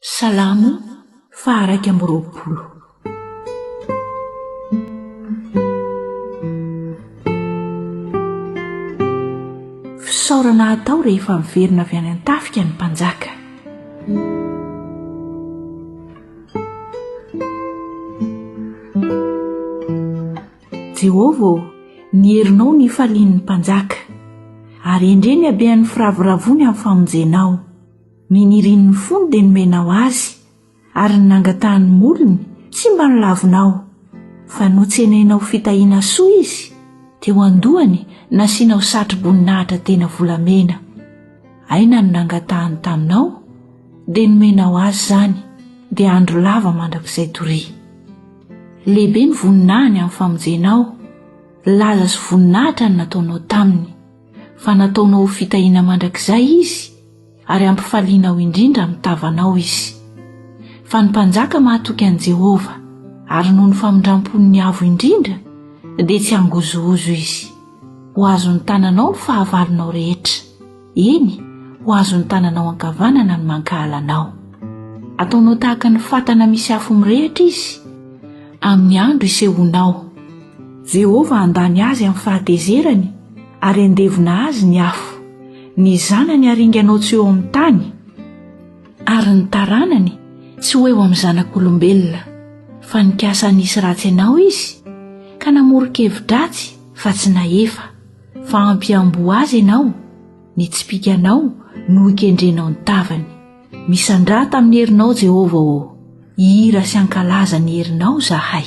Salamo faha-iraika amby roapolo. Fisaorana atao rehefa miverina avy any an-tafika ny mpanjaka. Jehovah ô, ny herinao no ifalian'ny mpanjaka, ary endrey ny habehan'ny firavoravoany amin'ny famonjenao. Ny nirian'ny fony dia nomenao azy, ary ny nangatahan'ny molony tsy mba nolavonao. Fa notsenainao ho fitahiana soa izy, teo an-dohany nasianao satroboninahitra tena volamena. Aina no nangatahany taminao, dia nomenao azy izany, dia andro lava mandrakizay toria. Lehibe ny voninahiny amin'ny famonjena aho, laza sy voninahitra ny nataonao taminy, fa nataonao ho fitahiana mandrakizay izy, ary hampifalianao indrindra amin'ny tavanao izy. Fa ny mpanjaka mahatoky an'i Jehovah, ary noho ny famindram-pon'ny Avo Indrindra, dia tsy hangozohozo izy. Ho azon'ny tananao ny fahavalonao rehetra, eny, ho azon'ny tananao ankavanana ny mankahala anao. Ataonao tahaka ny fatana misy afo mirehitra izy, amin'ny andro isehoanao. Jehovah handany azy amin'ny fahatezerany, ary handevona azy ny afo. Ny zanany haringanao tsy ho eo amin'ny tany, ary ny taranany tsy ho eo amin'ny zanak'olombelona. Fa nikasa hanisy ratsy anao izy, ka namoron-kevi-dratsy fa tsy nahefa. Fa hampihamboho azy ianao, ny tsipìkanao no hikendrenao ny tavany. Misandrata amin'ny herinao Jehovah ô, hihira sy hankalaza ny herinao izahay.